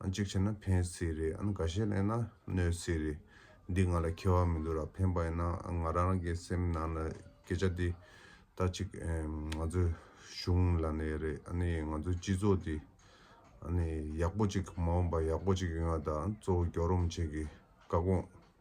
གཅིག་བྱས་ན་ཕན་སྲིད་རེད་ཨ་ག་ཤེད་གླེང་ན་གནོད་སྲིད་རེད། འདི་ང་ལ་ཁེལ་བ་མི་འདུག་ར་ཕན་པ་ཡིན་ན་ང་རང་རང་གི་སེམས་ནང་ལ་སྐད་ཆ་འདི་ལྟ་གཅིག་ང་ཚོའི་གཞུང་ལ་ནས་རེད་ནི་ང་ཚོའི་སྤྱི་ཚོགས་འདི་ནི་ཡག་པོ་གཅིག་མ་འོངས་པ་ཡག་པོ་གཅིག་ཡོང་བ་དང་གཙོ་བོ་གྱོ་རོམ་བྱེད་ཀྱི་བཀའ་དགོངས།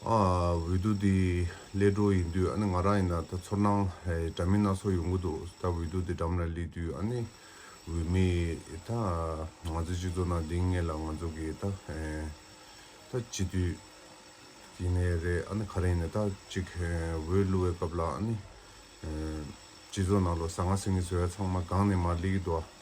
འོས་བསྡུ་དེ་ཀླད་སྒྲོག་ཡིན་དུས་ང་རང་ཡིན་ན་ད་ཚོར་སྣང་འདྲ་མིན་སྣ་ཚོགས་ཡོང་གི་འདུག་ད་འོས་བསྡུ་དེ་འགྲམ་ལ་སླེབས་དུས་འོས་མེད་ད་ང་ཚོའི་སྤྱི་ཚོགས་ནང་དེང་སྔས་ལ་ང་ཚོ་གི་ད་སྤྱི་འཐུས་ཡིན་ནའི་རེད་ག་རེ་ཡིན་ནའི་ད་ཅིག་འོས་བསླུ་བའི་སྐབས་ལ་སྤྱི་ཚོགས་ནང་ལོ་ཟ་ང་ཟི་ངེ་ཟེར་བ་ཚང་མ་སྒང་ནས་མར་སླེབས་ཀྱི་འདུག་ཨ།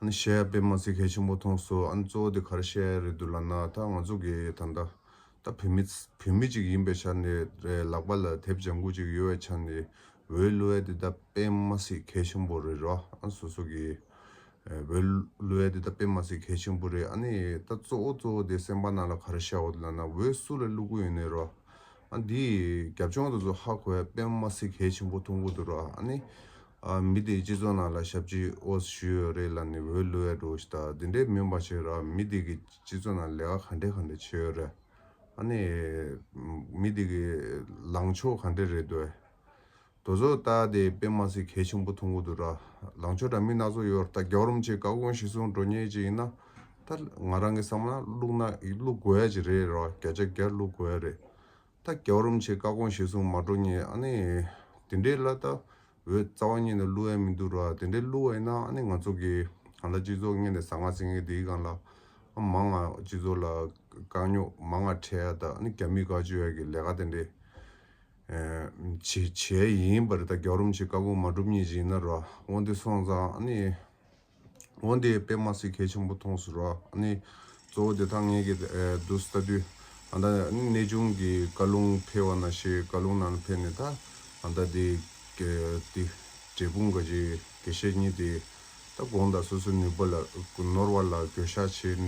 ཨ་ནི་བཤད་ཡ་དཔེ་མ་ཚིག་ཧེ་ཆེན་པོ་མཐོང་སོ་ཨ་ནི་གཙོ་བོ་དེ་གར་བཤད་ཡ་རེད་འདུག་ལ་ན་ད་ང་ཚོ་གི་ད་ལྟ་ད་བོད་མི་བོད་མི་ཅིག་ཡིན་པའི་ཆ་ནས་རེད་ལག་པ་ལ་དེབ་ལྗང་གུ་ཅིག་ཡོད་བའི་ཆ་ནས་བོད་གླུ་བའི་དེ་ད་དཔེ་མ་ཚིག་ཧེ་ཆེན་པོ་རེད་རོ་ཨ་ནི་སོ་སོ་གི་བོད་གླུ་བའི་དེ་ད་དཔེ་མ་ཚིག་ཧེ་ཆེན་པོ་རེད་ཨ་ནི་ད་གཙོ་བོ་གཙོ་བོ་དེ་སེམས་པ་ནང་ལ་གར་བཤད་བ་དེ་ལ་ན་འོད་སུ་ལ་གླུ་གུ་ཡོད་ནི་རོ་ཨ་ནི་འདིའི་རྒྱབ་ལྗོངས་དེ་ཚོ་ཧ་གོ་ཡ་དཔེ་མ་ཚིག་ཧེ་ཆེན་པོ་མཐོང་གི་འདུག་རོ་ཨ་ནི་མི་དེའི་སྤྱི་ཚོགས་ནང་ལ་ཞབས་ཕྱི་ཨོ་སི་ཞུས་ཡོད་རེད་ལ་ནི་འོས་བླུ་ཡ་འགྲོ་ཞིག་དང་དེ་འདྲའི་མིན་པ་ཞིག་རག་མི་དེ་གི་སྤྱི་ཚོགས་ནང་ལས་ཀ་ག་འདྲའི་ག་འདྲའི་བྱས་ཡོད་རེད་ཨ་ནི། མི་དེ་གི་ལངས་ཕྱོགས་ག་འདྲའི་རེད་འདོད། དོལ་ཚོགས་ལྟ་དེ་དཔེ་མ་ཟིག་གལ་ཆེན་པོ་མཐོང་གི་འདུག་ར་ལངས་ཕྱོགས་འདྲ་མིན་སྣ་ཚོགས་ཡོད་ར་ད་རྒྱག་རོམ་ཆེ་ག་གོང་ཞིག་གསུང་འགྲོ་ཉེ་ཅིག་ཡིན་ན་ད་ང་རང་གི་བསམ་ན་བླུག་ན་བླུག་དགོས་ཡ་ཅིག་རེད་ར་བརྒྱ་ཆ་བརྒྱ་བླུག་དགོས་ཡ་རེད་ད་རྒྱ་རོམ་ཆེ་བཀའ་དགོངས་བཞེས་གསུང་མ་འགྲོ་ངས་ཨ་ནི། དེ་འདྲའི་བླ་རྟ་འོད་རྩ་བ་ཉིད་ནས་བསླུ་ཡ་མི་འདུག་ར་དེ་འདྲའི་བསླུ་བ་ཡིན་ན་ཨ་ནི་ང་ཚོ་གི་གང་ལ་སྤྱི་ཚོགས་གཉེར་ནས་ཟ་ང་ཟིང་ངེ་དེའི་གང་ལ་ཨ་མ་ང་སྤྱི་ཚོགས་ལ་དཀའ་རྙོག་མ་ང་འཕྲད་ཡ་ད་ཨ་ནི་རྒྱ་མིས་དགའ་བཅོས་ཡ་གི་ལས་ཀ་དེ་འདྲའི་བྱས་ཡིན་པ་རེད་ད་རྒྱ་རོམ་ཆེ་བཀའ་དགོངས་མ་འགྲུབ་ཉིན་ཞིག་ཡིན་ན་ར་དབང་འདི་སོང་ཙང་ཨ་ནི། འོན་ཏེ་པད་མ་སི་གྷའི་ཆེན་པོ་མཐོང་ཟེར་བ་ནི་གཙོ་བོ་དེ་དག་ངེད་ཀྱི་དུ་ཟླ་དུས་ད་ནི་གནས་ཆུང་གི་བཀའ་ལུང་འཕེལ་བ་ན་ཞེས་བཀའ་ལུང་ནང་ན་འཕེལ་ནས་ད་ཟླ་དེ་འབྲས་སྤུངས་དགའ་བྱེད་དགེ་བཤེས་གཉིས་དེ་ད་དགོངས་དག་སོ་སོའི་ནུས་པ་ལ་ནོར་བ་ལ་གྱོད་བཤགས་བྱེད་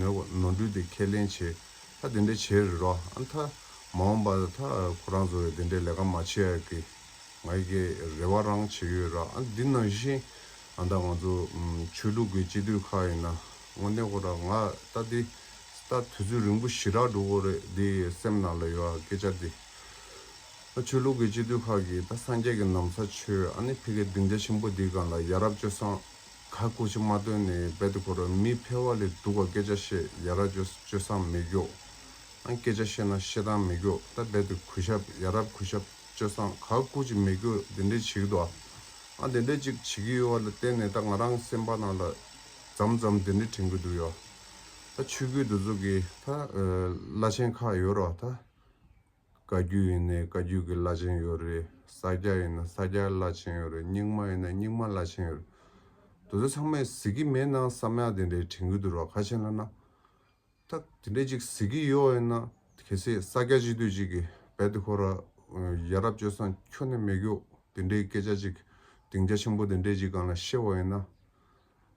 ནོར་འཁྲུལ་དེ་ཁས་ལེན་བྱེད་ད་དེ་འདྲ་བྱེད་རོགས་ད་མ་འོངས་པ་ད་ཁོ་རང་ཚོ་ཡང་དེ་འདྲའི་ལས་ཀ་མ་བྱེད་ཀི་ང་ཡི་གེ་རེ་བ་རང་བྱེད་ཡོད་ར་འདི་ནང་བཞིན་ཨ་ད་ང་ཚོ་ཆོས་ལུགས་ཀྱི་སྤྱི་འཐུས་ཁག་ཡིན་ན་དངོས་གནས་ཁོ་ར་ང་ལྟ་འདི་ལྟ་དུས་ཚོད་རིང་པོ་ཞི་རག་འགྲོ་གོ་རེ་འདི་སེམས་ནང་ལ་ཡོད་ཨ་སྐད་ཆ་འདི་ཨ་ཆོས་ལུགས་ཀྱི་སྤྱི་འཐུས་ཁག་གིས་ད་སངས་རྒྱས་ཀྱི་ནམ་ཚ་ཆོས་ཨ་ནི་ཕི་གའི་སྡིངས་ཆ་ཆེན་པོ་འདི་གང་ལ་ཡ་རབས་ཅོ་སང་ག་ཁུག་ཆེ་མ་བཏོན་ནས་རྦད་དེ་ཁོ་ར་མི་ཕལ་བ་ལས་སྡུག་ག་སྐད་ཆ་བཤད་ཡ་ར་ཅོ་ཅོ་སང་མི་སྐྱོ་ཨ་སྐད་ཆ་བཤད་ན་བཤད་སྟངས་མི་སྐྱོ་ད་རྦད་དེ་གུས་ཞབས་ཡ་རབས་གུས་ཞབས། སྤྱོད་བཟང་ག་སྐུ་ཅི་མི་དགོས་དེ་འདྲས་བྱེད་ཀྱི་འདུག་ཨ། དེ་འདྲས་ཅིག་བྱེད་ཀྱི་ཡོད་བ་ལ་བརྟེན་ནས་ད་ང་རང་སེམས་པ་རྣམས་ལ་འཇམ་འཇམ་དེ་འདྲས་དྲན་གྱི་འདུག་ཡོད་ད་ཆོས་སྐུའི་འདུ་ཚོགས་ཀྱི་ད་བླ་ཆེན་ཁག་ཡོད་རོགས་ད། བཀའ་རྒྱུད་ཡིན་ནའི་བཀའ་རྒྱུད་ཀྱི་བླ་ཆེན་ཡོད་རེད་ས་སྐྱ་ཡིན་ན་ས་སྐྱ་བླ་ཆེན་ཡོད་རེད་རྙིང་མ་ཡིན་ན་རྙིང་མ་བླ་ཆེན་ཡོད་རེད་འདུག་དེ་ཚང་མས་ཟིག་གི་མེད་ནང་བསམ་ཡག་དེ་འདྲས་དྲན་གྱི་འདུག་རོགས་ཁ་ཆེན་ལ་ན། ད་དེ་འདྲས་ཅིག་ཟེར་གི་ཡོའོ་ཡིན་ན་གལ་སྲིད་ས་སྐྱ་ཅིག་དུས་ཅིག་གི་བལ་དུ་ཁོ་རཡ་རབ་སྤྱོད་སང་ཁྱོ་ནི་མེ་གྱོ་དེ་འདྲས་སྐད་ཆ་ཅིག་དིང་རྒྱ་ཆེན་པོ་དེ་འདྲས་ཅིག་གང་ལ་ཤེས་བ་ཡིན་ན།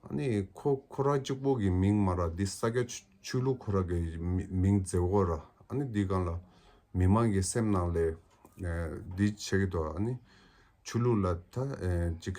ཨ་ནི་ཁོ་ཁོ་ར་གཅིག་པོ་གི་མིང་མ་ར་འདི་ས་སྐྱ་ཆོས་ལུགས་ཁོ་ར་གི་མིང་མཛེས་བོ་ར་ཨ་ནི་འདི་གང་ལ་མི་མང་གི་སེམས་ནང་ལས་འདི་བྱེད་གི་དོ་ཨ་ནི་ཆོས་ལུགས་ལ་ད་ཅིག།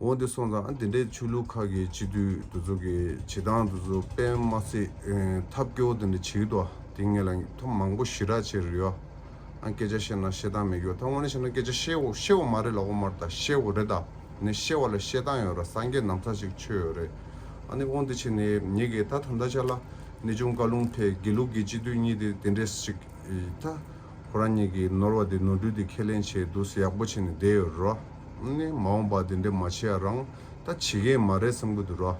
འོན་ཏེ་སོང་ཙང་དེ་འདྲའི་ཆོས་ལུགས་ཁག་གི་སྤྱི་འཐུས་འདི་ཚོ་གི་བྱེད་སྟངས་འདི་ཚོ་དཔེ་མ་ཚིགས་ཐབས་སྐྱོ་དེ་འདྲ་བྱེད་ཀྱི་འདུག་དེ་ངས་ལ་ཐོ་མང་པོ་ཞི་རགས་བྱེད་རེད་ཡོད་ཨང་སྐད་ཆ་བཤད་ན་བཤད་སྟངས་མེད་ཀྱི་ཡོད་ད་དངོས་ནས་བཤད་ན་སྐད་ཆ་བཤད་བཤད་བོ་མ་རེད་ལ་ཨོ་མར་ད་བཤད་བོ་རེད་ད་ནས་བཤད་བ་ལ་བཤད་སྟངས་ཡོད་ར་སངས་རྒྱས་ནམ་ཚ་ཞིག་ཆོས་ཡོད་རེད་ཨ་ནི་འོན་ཏེ་བྱས་ནས་ཉེས་ཀྱི་ད་ད་འདྲ་ཆ་ལ་ནས་ཅུང་བཀའ་ལུང་ཐད་དགེ་ལུགས་ཀྱི་སྤྱི་འཐུས་གཉིས་དེ་དེ་འདྲས་ཞིག་ད། ཁོ་རང་ཉིད་ཀྱིས་ནོར་བ་དེ་ནོར་འཁྲུལ་དེ་ཁས་ལེན་བྱས་འདུག་ཟེར་ཡག་པོ་བྱས་ནས་བསྡད་ཡོད་རོ། ནས་མ་འོངས་པར་དེ་འདྲས་མ་བྱེད་ཡ་རང་ད་བྱེད་མཁན་མ་རེད་བསམ་གྱི་འདུག་རོ།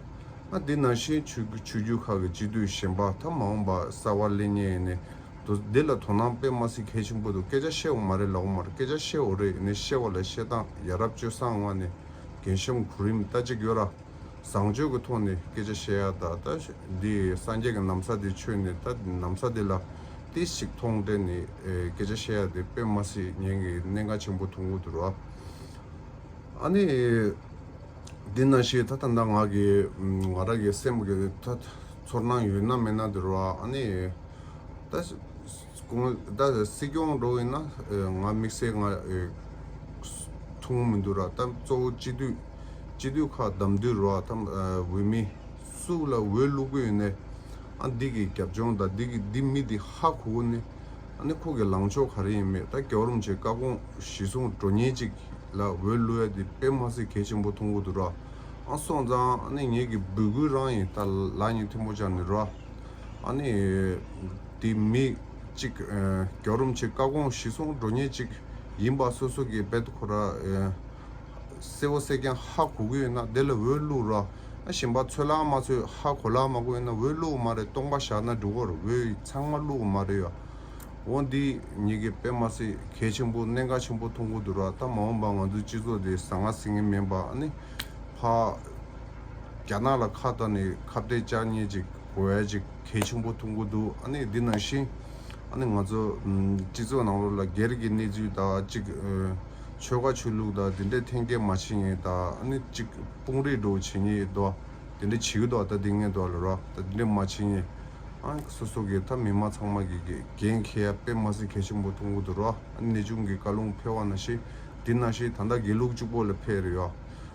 ང་འདི་ནང་བཞིན་ཆོས་ཆོས་རྒྱུད་ཁག་གི་སྤྱི་འཐུས་གཞན་པ་ད་མ་འོངས་པར་གསར་བ་གླེང་ཉེ་ཡིན་ནས་འདུག་འདི་ལ་དོ་སྣང་དཔེ་མ་སྲིད་གལ་ཆེན་པོ་འདུག་སྐད་ཆ་བཤད་འོ་མ་རེད་ལབ་འོ་མ་རེད་སྐད་ཆ་བཤད་འོ་རེད་ནས་བཤད་བ་ལ་བཤད་སྟངས་ཡ་རབ་སྤྱོད་བཟང་ངང་ནས་རྒན་གཤམ་གོ་རིམ་ལྟ་ཅིག་ཡོད་ར། བཟང་སྤྱོད་ཀྱི་ཐོག་ནས་སྐད་ཆ་བཤད་ཡག་ད་ལྟ་འདི་སངས་རྒྱས་ཀྱི་ནམ་མཚར་དེ་ཆོས་ནས་ད་ནམ་མཚར་དེ་ལ་ཏིས་ཤིག་མཐོང་དྲན་ནས་སྐད་ཆ་བཤད་ཡག་དེ་དཔེ་མ་སྲིད་ཉན་གི་གནད་འགག་ཆེན་པོ་ཐུང་ངུ་དུ་རོ། ཨ་ནི། འདི་ན་ཞིག་ད་ད་ནང་ང་གི་ང་རང་གི་སེམས་ཀྱི་ད་ཚོར་སྣང་ཡོད་སྣང་མེད་སྣང་དུ་རོ། ཨ་ནི། ད། ཀུན་ད་སྲིད་སྐྱོང་འགྲོ་བས་ན་ང་དམིགས་བསལ་ང་ཐུང་མི་འདུག་ར་ད་གཙོ་བོ་སྤྱི་འཐུས་སྤྱི་འཐུས་ཁག་བདམས་དུས་ར་ད་འོས་མི་སུ་ལ་འོས་བླུག་གི་ཡོད་ནའི་ཨ་འདི་གི་རྒྱབ་ལྗོངས་ད་འདི་གི་འདི་མི་འདི་ཧ་གོ་གོ་ནི་ཨ་ནི་ཁོ་གི་ལངས་ཕྱོགས་ག་རེ་ཡིན་མེད་ད་རྒྱ་རོམ་ཆེ་ཀ་གོང་གཞི་བཟུང་འགྲོ་ཉེན་ཅིག་ལ་འོས་བླུག་ཡ་འདི་དཔེ་མ་ཟིག་གལ་ཆེན་པོ་ཐོང་གོ་འདུག་ར་ཨ་སོང་ཙང་ཨ་ནི་ངེད་གི་འབུལ་སྐུལ་རང་ཡིན་ད་ལ་ཉིན་ཐེང་པོ་ཅག་ནི་ར། ཨ་ནི། འདི་མི་གཅིག་གྱོ་རུམ་ཆེ་དཀའ་དགོངས་གཞི་བཟུང་འགྲོ་ཉེས་ཅིག་ཡིན་པ་སོ་སོ་གི་བེད་ཁོ་ར་སེ་བོ་སེ་ཀྱང་ཧ་གོ་གི་ཡོད་ན་དེ་ལ་འོས་བླུག་ར་གཞན་པ་ཚོད་ལག་མ་ཚོས་ཧ་གོ་ལག་མ་གོ་ཡོད་ན་འོས་བླུག་མ་རེད་སྟོང་པ་བཞག་ན་འགྲིག་བོར་འོས་ཚང་མ་བླུག་མ་རེད་ཡ་འོ་འདི་ཉིད་ཀྱི་དཔེ་མ་ཟད་གལ་ཆེན་པོ་གནད་འགག་ཆེན་པོ་མཐོང་གི་འདུག་ར་ད་མ་འོངས་པ་ང་ཚོའི་སྤྱི་ཚོགས་འདི་ཟ་ང་ཟི་ངེ་མིན་པ་ཨ་ནི། ཕ། རྒྱ་ནག་ལ་ཁ་བཏགས་ནས་ཁ་བརྡའི་ལྕགས་སྙེ་ཅིག། བོད་ཀྱི་གལ་ཆེན་པོ་ཐུག་འགོ་འདུག་ཨ་ནི་འདི་ནང་བཞིན་ཨ་ནི་ང་ཚོ་སྤྱི་ཚོགས་ནང་ལོ་ལ་སྒེར་གྱི་གནས་ཚུལ་དང་གཅིག་ཆོལ་ཁ་ཆོས་ལུགས་དང་འདི་འདྲས་འཐེན་འཁྱེར་མ་བྱེད་ངེས་དང་ཨ་ནི་གཅིག་དཔུང་རེ་འགྲོ་བྱེད་ངེས་དོ་འདི་འདྲས་བྱེད་གི་འདུག་ད་དེ་ངས་འདུག་ལ་རོ་ད་འདི་འདྲས་མ་བྱེད་ངེས་ཨ་ནི་སོ་སོ་གི་ད་མི་མང་ཚང་མ་གི་འགན་ཁྱེད་ཡ་པེ་མ་ཟིན་གལ་ཆེན་པོ་ཐུག་འགོ་འདུག་རོ་ཨ་ནི་གནས་ཆུང་གི་བཀའ་ལུང་འཕེལ་བ་ནང་བཞིན་འདི་ནང་བཞིན་ད་ལྟ་དགེ་ལུགས་གཅིག་པོ་ལ་འཕེལ་རེ་ཡོད།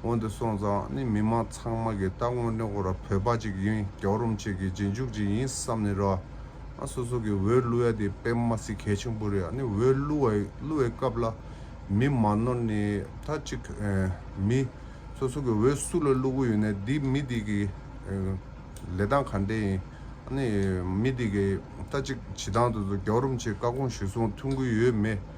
སྔོན་དུ་སོང་ཙང་ནི་མི་མང་ཚང་མ་གི་ལྟ་དངོས་ནི་ཨོ་ར་བོད་པ་གཅིག་ཡིན་རྒྱག་རུམ་གཅིག་གི་རྗེས་འཇུག་གཅིག་ཡིན་བསམ་ནི་ར་ཨ་སོ་སོ་གི་འོས་བླུ་ཡ་དེ་པེ་མ་སི་གལ་ཆེན་པོ་རེད་ཨ་ནི་འོས་བླུ་བའི་སྐབས་ལ་མི་མ་ནོར་ནི་ད་གཅིག་མི་སོ་སོ་གི་འོས་སུ་ལ་བླུ་གི་ཡོད་ནི་དེ་མི་དེ་གི་ལས་སྟངས་ག་འདྲ་ཡིན་ཨ་ནི་མི་དེ་གི་ད་གཅིག་བྱི་ཐང་དུ་རྒྱག་རུམ་ཆེ་བཀའ་དགོངས་ཞུ་སོང་ཐུགས་འགུལ་ཡོད་མེད།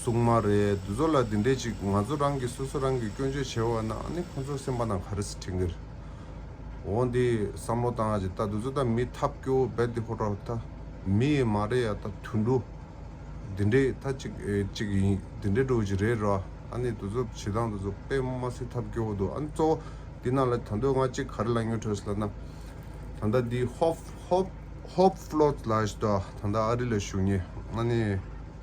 སུག་མ་རེད་འདི་ཚོ་ལ་འདི་འདྲས་ཅིག་ང་ཚོ་རང་གི་སོ་སོ་རང་གི་སྐྱོན་བརྗོད་བྱེད་འོ་ན་ནི་ཁོ་ཚོ་སེམས་པ་ན་ག་རེ་ཟེར་ཁྲེལ་གེར་འོ་འདི་བསམ་བློ་བཏང་ཅིག་ད་འདི་ཚོ་ད་མི་ཐབས་སྐྱོ་བོ་རྦད་དེ་ཧོ་ཀྲར་ད་མི་ཡི་མ་རེད་ཡ་ད་དུད་འགྲོ་འདི་འདྲས་ད་ཅིག་ཅིག་ཡིན་འདི་འདྲས་འགྲོ་ཅིག་རེད་ར་ཨ་ནི་འདི་ཚོ་བྱེད་སྟངས་འདི་ཚོ་དཔེ་མ་སྲིད་ཐབས་སྐྱོ་བོ་འདུག་ཨ་ནི་གཙོ་བོ་འདི་ནང་ལ་ད་འདོད་ང་ཅིག་ག་རེ་ལ་ཉོ་འཕྲོས་ལ་ན་ད་ལྟ་འདི་ཧོབ་ཧོབ་ཧོབ་ཧྥོལ་ལ་ད་ད་ཨ་རི་ལ་བཞུགས་ཉེ་ཨ་ནི།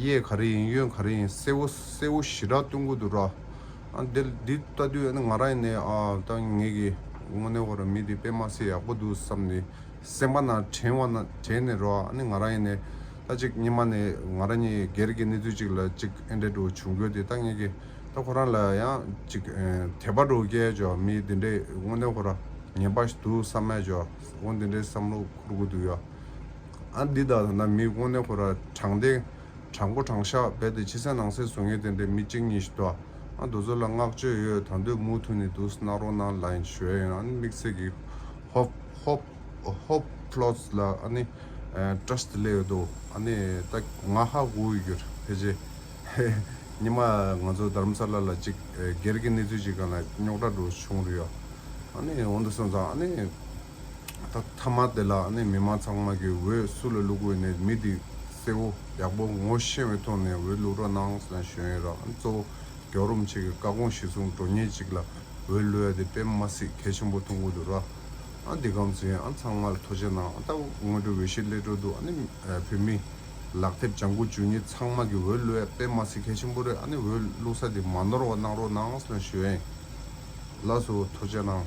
གཡས་ག་རེ་ཡིན་གཡོན་ག་རེ་ཡིན་གསལ་བོ་གསལ་བོ་ཞི་དྲག་སྟོན་དགོས་འདུག་ར། འདི་ལྟ་དུས་ང་རང་ནས་ད་ངེད་ཀྱི་དངོས་གནས་བར་མི་འདི་པད་མ་སེ་ཡག་པོ་འདུག་བསམ་ནས་སེམས་པ་ན་དྲན་བ་ན་དྲན་ནས་ར་ང་རང་ཡིན་ནས་ད་ཅིག་ཉི་མ་ནས་ང་རང་གཉིས་སྒེར་གྱི་གནས་ཚུལ་ཅིག་ལ་ཅིག་ཨེ་འདྲེ་འགྲོ་བྱུང་དགོས་ཏེ་ད་ངེད་ཀྱི་ད་ཁོ་རང་ལ་ཡང་ཅིག་དད་པ་འགྲོ་སྐད་ཆ་མི་འདི་འདྲས་དངོས་གནས་ཁོ་ར་ངན་པ་ཞིག་འདུག་བསམ་མས་ཀྱི་འོ་འདི་འདྲས་བསམ་བློ་འཁོར་དགོས་འདུག་ཡ། ཨ་འདི་དག་ཐ་ན་མིའི་དབང་ནི་ཁོ་ར་དྲང་བདེན། དྲང་པོ་དྲང་ཤག་རྦད་དེ་ཕྱི་གསལ་ནང་གསལ་བཟོ་ངེས་བསྟན་པའི་མི་གཅིག་གཉིས་ཤིག་ཏུའང་རྡོ་ཚོ་ལ་བསྔགས་བརྗོད་ཡོད་དང་འདོད་མུག་ཐུག་ནས་འདུག་སྣག་རོ་ནང་ལ་ཡིན་ཞོལ་ཡིན་ཨ་ནི་དམིགས་བསལ་གྱི་ཧོབ་ལོདས་ལ་ཨ་ནི Trust སླེ་ཡོད་དོ་ཨ་ནི་ད་ང་ཧ་གོ་འོས་གྱུར་ཕལ་ཆེ་ཧེ། ཉི་མ་ང་ཚོ་དར་མཚར་ལ་ལ་ཅིག་སྒེར་གྱི་གནས་ཚུལ་ཅིག་གང་ལ་རྙོག་དྲ་འགྲོ་བྱུང་རེད་ཨ་ནི་འོན་ཏེ་སོང་ཙང་ཨ་ནི། ད་མཐའ་མ་དེ་ལ་ནི་མི་མང་ཚང་མ་གིས་འོས་སུ་ལ་བླུག་འོས་ནས་མི་འདི་གསལ་བོ་ཡག་པོ་ངོ་ཤེས་བའི་ཐོག་ནས་འོས་བླུག་རོགས་གནང་ཟེར་ན་གཞོན་ཡོད་རང་གཙོ་བོ་གྱོ་རུམ་ཆེ་གི་བཀའ་དགོངས་གཞི་བཟུང་འགྲོ་ཉེ་གཅིག་ལ་འོས་བླུག་ཡ་དེ་དཔེ་མ་སྲིད་གལ་ཆེན་པོ་ཐུག་འོ་དུ་ར་འདི་གམ་ཟེ་ཡང་ཚང་མ་ལ་ཐོ་ཆེ་གནང་ད་སྔོན་འགྲོ་འོས་གཞི་སླེ་འགྲོ་འདུག་ཨ་ནི་བོད་མི་ལག་དེབ་ལྗང་ཁུ་བཅུ་གཉིས་ཚང་མ་གིས་འོས་བླུག་ཡ་དཔེ་མ་སྲིད་གལ་ཆེན་པོ་རེད་ཨ་ནི་འོས་བླུག་ས་དེ་མ་ནོར་བ་གནང་རོགས་གནང་ཟེར་ན་གཞོན་ཡལ་སོ་ཐོ་ཆེ་གནང།